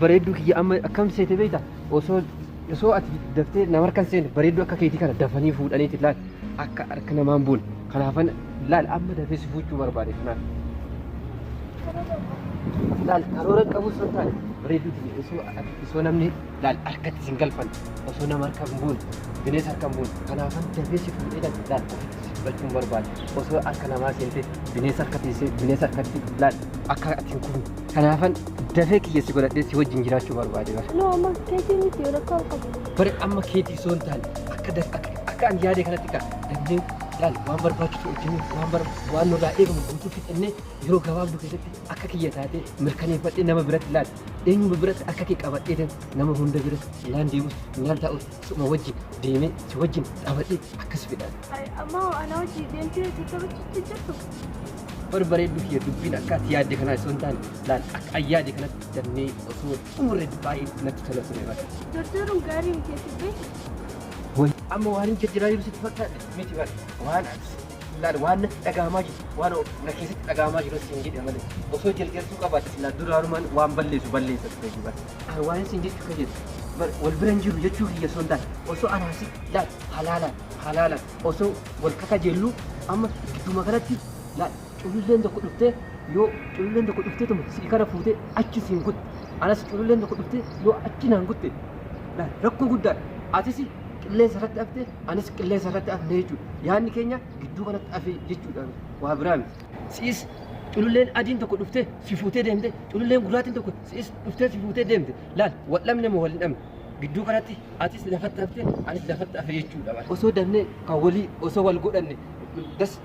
Bareedduu kiyya amma akkam seete beekta osoo osoo ati daftee nama harkan seene bareedduu akka keetii kana dafanii fuudhaniiti laal akka harka namaan buun kanaafan laal amma dafee si fuuchuu barbaade kanaaf. Laal karoora qabus fakkaata bareedduu kiyya osoo ati osoo namni laal harkatti isin galfan osoo nama harka hin buune bineensa harka hin buune kanaafan dafee si fuudhee kan laal ofitti si fudhachuu hin barbaade osoo harka namaa seentee bineensa harka teessee bineensa harkatti laal akka ati hin kufne kanaafan dafee kiyya si godhadhee si wajjin jiraachuu barbaade bara. Noo amma keetii miti yoo rakkoo hin qabu. Bara amma keetii osoo hin taane akka daf akka akka ani yaade kanatti kaa dafnee laal waan barbaachisu hojjennee waan bar waan nurraa eegamu guutuu fixannee yeroo gabaabduu keessatti akka kiyya taatee mirkaneeffadhee nama biratti laal Eenyuma biratti akka kee qabadhee nama hunda biratti naan deemus naan taa'us suma wajjin deemee si wajjin taphadhee akkas fedha. Amma anaa wajjin deemtee tattabachuutti jirtu. Bar bareedduu kiyya dubbiin akka ati yaadde kanaa osoo hin taane laal akka an yaade kanatti dannee osoo xumurre baay'ee natti tola ture bara. Jarjaruun gaarii miti ati beektu. Way amma waan hin jarjaraa jiru sitti fakkaate miti bara waan ati Laal waan natti dhaga'amaa jiru waan na keessatti dhaga'amaa jiru siin jedhe malee osoo jarjarsuu qabaates laal duraanumaan waan balleessu balleessa ture jibar. Ani waan siin jechuu kan jedhu bar wal bira hin jiru jechuu kiyya osoo hin taane osoo anaa si laal halaalaan halaalaan osoo wal kakajeelluu amma gidduma kanatti laal cululleen tokko dhuftee yoo cululleen tokko dhuftee tuma si kana fuutee achi siin kutte anas cululleen tokko dhuftee yoo achi naan kutte laal rakkoo guddaadha atisi qilleensa irratti hafte anis qilleensa irratti hafne jechuudha. Yaadni keenya gidduu kanatti hafe jechuudha. Waa biraa miti. Si'is cululleen adiin tokko dhuftee si fuutee deemte cululleen gurraatiin tokko si'is dhuftee si fuutee deemte laal wal dhabne moo wal hin dhabne gidduu kanatti atis lafatti hafte anis lafatti hafe jechuudha. Osoo dafnee kan walii osoo wal godhanne das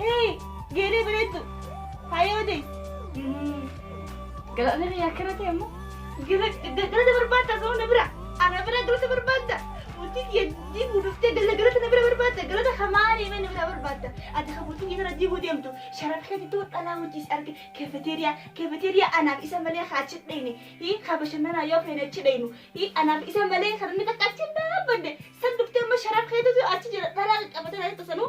Hee! Geelee bareeddu! Faayoo ta'e! Galaana biyya akkana ta'e immoo galata barbaadda osoo na bira! Ana bira galata barbaadda! Mootii kiyya diiguu dhuftee galata na bira barbaadda! Galata hamaa deemee na bira barbaadda! Ati kan mootii kiyya sana diiguu deemtu sharaf keetituu dhalaa hojii si arge keefeteeriyaa keefeteeriyaa anaaf isa malee haa achi dhayne hii haa bashannanaa yoo feene achi dhaynu hii anaaf isa malee kan inni takka achi hin dhaabbanne san dhuftee amma sharaf keetituu achi jira dhalaa qaqqabatee na jettu sanuu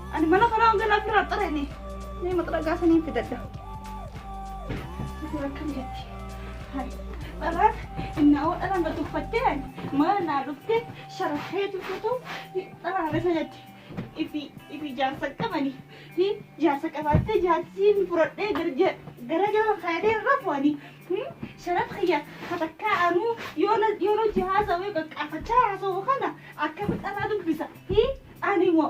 Ani mana kanaa hangan afirraa xareenii. Mee maxiragaa sanii fidadha. Asirra akkam jetti? Hai. Dharaan innaawoo dharaan na tuffattee ani mana naa dhuftee sharaxee tuffatuu dharaan isa jetti. Ifi ifi jaarsa qabani. Hi jaarsa qabaattee jaarsii fi furadhee gara gara jala kaayatee rafu ani. Sharax kiyya katakkaa anuu yoona yoona jihaasa wayii qaqqaafachaa haasa'u kana akkamitti dharaan dubbisa. Hi ani moo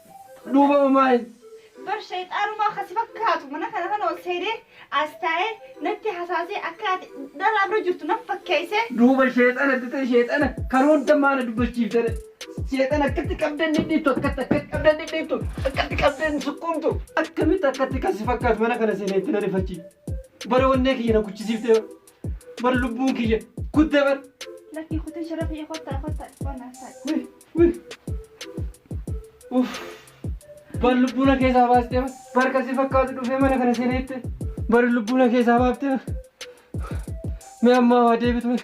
Duuba hoo maali? Bar shayxaanumaa ka si fakkaatu mana kana kana ol seenee as taa'ee natti hasaasee akka ati dhalaa bira jirtu nan fakkeessee. Duuba sheexana dutee sheexana kan hunda maana dubbachiiftare. Sheexana akkatti qabdan dhidhiittu akkatti akkatti qabdan dhidhiittu akkatti qabdan sukkuumtu akkamitti akkatti kan si fakkaatu mana kana seenee itti na rifachiif. Bara wannee kiyya na kuchisiiftee Bar lubbuun kiyya kutte bar. Lakkii kutin sharafii kottaa kottaa dhibba naaf ta'a. Wi wi. Uff. Bar lubbuu na keessaa baastee bar. Bar kan si fakkaatu dhufee mana kana seenee itti. Bar lubbuu na keessaa baaftee bar. Mee ammaa waa deebitu mee.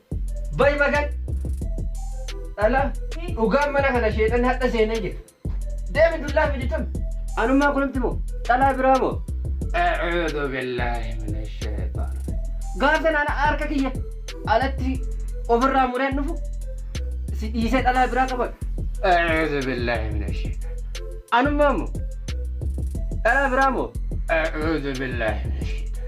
Bay magan dhala dhugaan mana kana sheexan hadha seenee jira. Deemi dullaa fidi tun. Anummaa kunumti moo dhalaa biraa moo. A'uudhu billaahi mina sheexaan. Gaaf sanaan harka kiyya alatti ofirraa mureen dhufu si dhiisee dhalaa biraa qabadhu. A'uudhu billaahi mina sheexaan. Anummaa moo dhalaa biraa moo. A'uudhu billaahi mina sheexaan.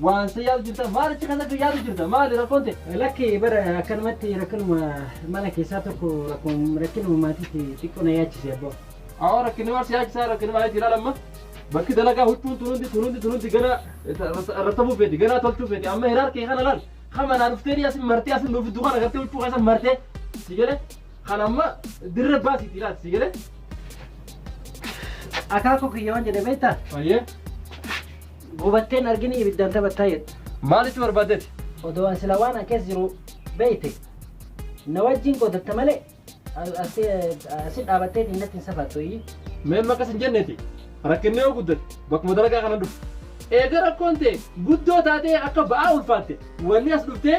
Waan sa yaadu jirta maal achi kana yaadu jirta maali rakkoon ta'e? Lakki bara akkanumatti rakkinuma mana keessaa tokko rakkum- rakkinuma maatiitti xiqqoo na yaachise abboo. Awoo rakkinni maal si yaachisaa rakkinni maal itti ilaalamma? Bakki dalagaa huccuun tunuundi tunuundi tunuundi ganaa rattabuu feeti ganaa tolchuu feeti amma hiraar kee kana laal kama naa dhuftee asin martee asin nuuf iddoo kana gartee huccuu keessa martee si galee Kan amma dirree baasii itti laati si galee. Akaakuu kiyya waan jedhe beektaa? Baay'ee. Gubatteen argini ibiddaan taphattaa jedhu. Maalitti barbaaddeeti? Odoo an sila waan akkas jiru beekte na wajjin qotatta malee as- asi asi dhaabattee natti hin safattu iyyi. Mee maqas hin jenneeti. Rakkinni yoo guddate bakkuma dalagaa kana dhufu. Eega rakkoon ta'e guddoo taatee akka ba'aa ulfaatte wanni as dhuftee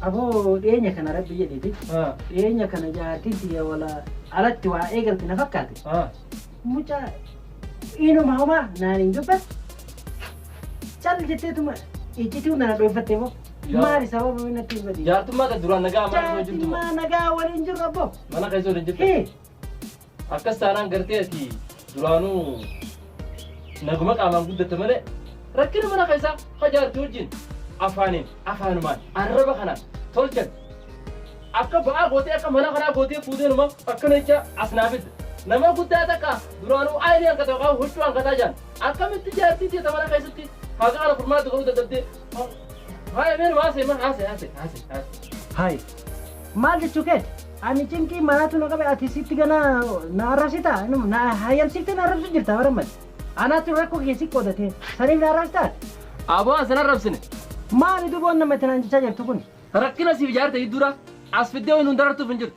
Aboo dhiyeenya kana rabbi jedhiti. Ah, Dhiyeenya kana jaartiin tiyya wala alatti waa eegalte na fakkaate. ah. Mucaa inuma homaa naan hin dubbat. Cal jetteetuma iccituu nana dhooffatte moo. Yaa. Maali sababa inni natti hin badin. Jaartummaa kan duraan nagaa maal osoo jirtu moo? Jaartummaa nagaa waliin jirru abboo. Mana keessa waliin jirtu. Hii. Akkas taanaan gartee ati duraanuu naguma qaamaan guddatte malee rakkina mana keessaa hajaarti wajjin afaaniin afaanumaan arraba kanaan tolchan akka ba'aa gootee akka mana kanaa gootee fuutee numa akkana jecha as naa fidde. Nama guddaa takka duraanuu aayinii hanqata yookaan huccuu hanqataa jiran akkamitti jaartii teeta mana keessatti haqa kana furmaatti godhuu dadhabdee Haaya mee numa haasee maal haasee haasee haasee haasee. Hayi. Maal jechuu keeti? Ani cinqii maraatu na qabe ati sitti gana na arrabsita inuma na hayyamsiftee na arrabsu jirta bara mali. Anaatu rakkoo kee si qoodatee saniif na arrabsita ati. Aboo an sana rabsine. Maali duboon namatti naan jechaa jirtu kun? Rakkina siif jaarte gidduudha as fiddee waan hundarartuuf hin jirtu.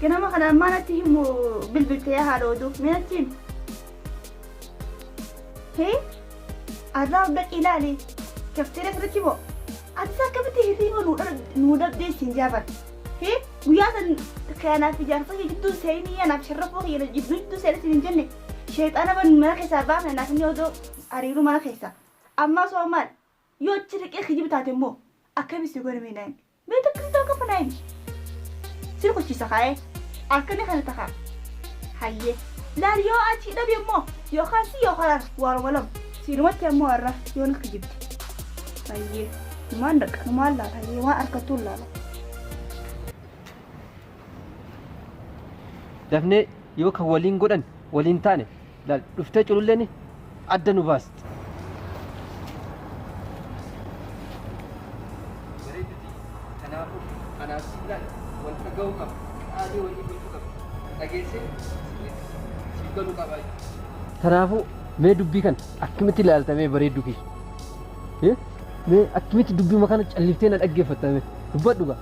Ganama kana ammaa natti himu bilbilte yaa haadha oduu mee natti himi. Hee arraa hunda ilaali kafteera kanatti moo ati akkamitti hirriiba nuu dha- nuu dhabdee ittiin jaafan. Hee guyyaa san kanaaf ijaarsa kee gidduu seenii anaaf sharrafoo kee na jidduu jidduu seenetti hin jenne sheexaana ban mana keessaa baafne naaf inni odoo hariiruu mana keessaa. Ammaa soo maal Yoo achi dhaqee kijiba taate immoo akkami si godha mee naayim? Mee takka si ta'u qaba naayim? Si rukuchiisa kaa'ee akkana kana takaa. Hayyee laal yoo achi dhabe immoo yookaan si yookaan ana waaruma lama. Siinumatti ammoo har'a yoo na kijibde. Hayyee numaan dhaqa numaan laala hayyee waan argattuun laala. Dafnee yoo kan waliin godhan waliin taane Laal dhuftee cululleen adda nu baasti. Bareeduti kanaafuu anaaf siillaan wal dhaga'uu qaba. Qaamii walii gochuu qaba. Dhageessee siif galuu qaba. Kanaafuu mee dubbii kana akkamitti ilaalta mee bareedduu kiyya? Eh? Mee akkamitti dubbii kana calliftee na dhaggeeffatta mee? Dubbadhu gaa.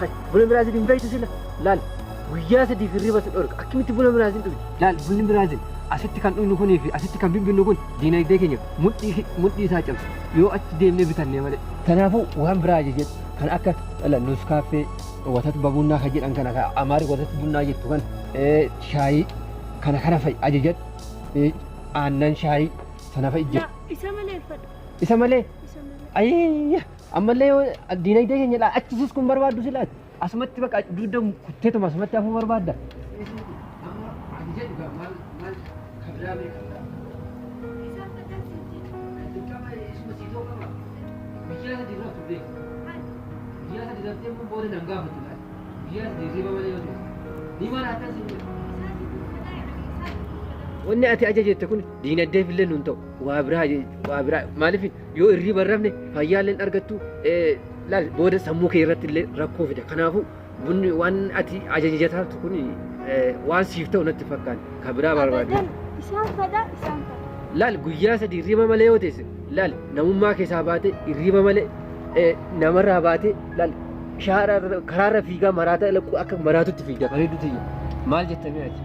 Hay, buna Biraazil hin beektu sila. Laal, guyyaa sadiif hirriba si dhorka. Akkamitti buna Biraazil dhugdi? Laal, bunni Biraazil asitti kan dhugnu kunii fi asitti kan bibbinnu kun diinagdee keenya mudhii ki- mudhii isaa cabsa. Yoo achi deemnee bitannee malee. Kanaafuu waan biraa jechuudha. Kan akka dhala nus kaaffee, watat babunnaa kan jedhan kana kan amaari watat bunnaa jettu kan eh, shaayii kana kana fa'i ajajadhu. Eh, Aannan shaayii sana fa'i jedhu. Isa malee fadha. Isa malee Isa malee. ayya Ammallee yoo diinagdee keenya ilaa achi sis kun barbaaddu sila ati. Asumatti baqa dugda kutteetuma asumatti hafuu barbaadda. Wanni ati aja jette kun diinagdeef illee nun ta'u waa biraa waa biraa maaliif Yoo irriiba hin rafne fayyaa illee hin argattu laal booda sammuu kee irratti illee rakkoo fida. Kanaafuu bunni waan ati ajajataatu kun waan siif ta'u natti fakkaata. Kan biraa barbaadu. Abadan isaan fedha isaan fedha. Laal guyyaa sadii irriiba malee yoo teesse laal namummaa keessaa baatee irriiba malee eh, namarraa baatee laal shaara irra- karaarra fiigaa maraataa ila- akka maraatutti fiigda bareedu tiyya. Maal jettanii ati?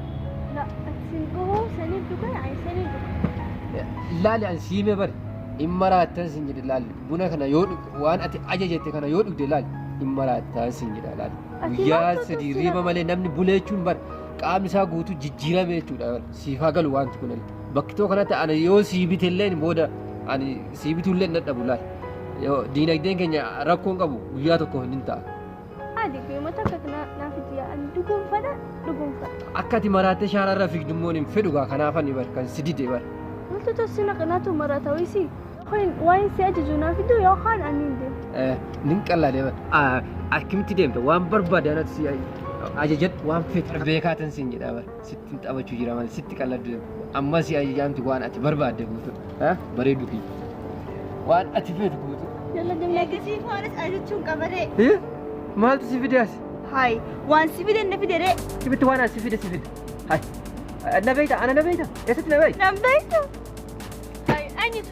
La, ati sin gahoo saniin dhugaa ani saniin dhugaa. Laali an siimee bari. in maraattan sin jedhe laal buna kana yoo dhug- waan ati ajajette kana yoo dhugde laal in maraattan sin jedha laal Ati guyyaa maaltu sadii sitti riiba hima? malee namni bulee jechuun bar qaamni isaa guutuu jijjiirame jechuudha bar. siif haa galu wanti kun illee bakki too kanatti ani yoo sii bite illee booda ani sii bituu illee hin dadhabu laal Yoo diinagdeen keenya rakkoon qabu guyyaa tokko hin ta'a Adi guyuma takka kana naaf itti yaa'an dhuguunfadha dhuguunfadha. Akka ati maraattee shaara irra fiigdu immoo hin fedhu gaa kanaafan bar kan si dide bar. Maaltu tolsi naqinaatu maraata wayisi. Hoyin waa'een si ajaju naaf iddoo yoo kaan ani hin deemu. Nin qallaa deema. Akkamitti deemta waan barbaade anatti si ajajadhu waan feetu beekaatan siin jedhaa bar. Sittin taphachuu jira malee sitti qalladde ammas ayyaanti waan ati barbaadde guutu bareedu kiyya waan ati feetu guutu. Eegasii foonis ajachuun qabaree. Maaltu si fide as? Hayi waan si fide na fide ree. Sibitti waan as si fide si fide. Hayi. Na beeyta ana na beeyta eessatti na beeyta? Nan beeyta. Hayi eenyutu?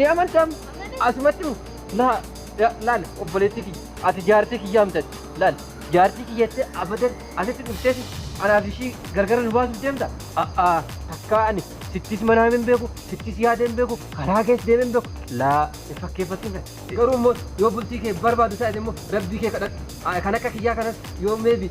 Ni amantam asumatti mu laa ya- laal obboleettii kiyya ati jaartii kiyyaa mtati laal jaartii kiyya jettee abadan asitti dhufteeti anaaf ishii gargara nu baasuuf deemta a'aa takkaa ani sittis manaa hin beeku sittis yaada hin beeku karaa kees deeme hin beeku laa hin fakkeeffattiin kan garuu immoo yoo bultii kee barbaadu taate immoo rabbii kee kadhadhu Aa, kan akka kiyyaa kanas yoo meebi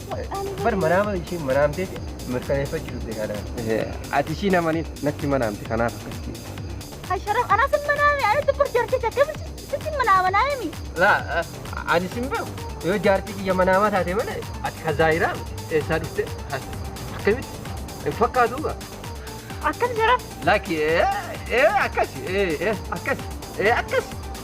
Bar manaama ishiin manaamtee mirkaneeffachuu dhufte kanaan. Ati ishii namaniif natti manaamte kanaaf akkasitti. Asharaf anaa sin manaame ani tokko jartee jakkami sitti manaama naami. Laa ani sin beeku yoo jaartii kiyya manaamaa taate malee ati ka zaayiraa eessaa dhufte akkamitti hin fakkaatu gaa. Akkas jaraf. Laki ee ee akkasi ee ee akkasi ee akkasi.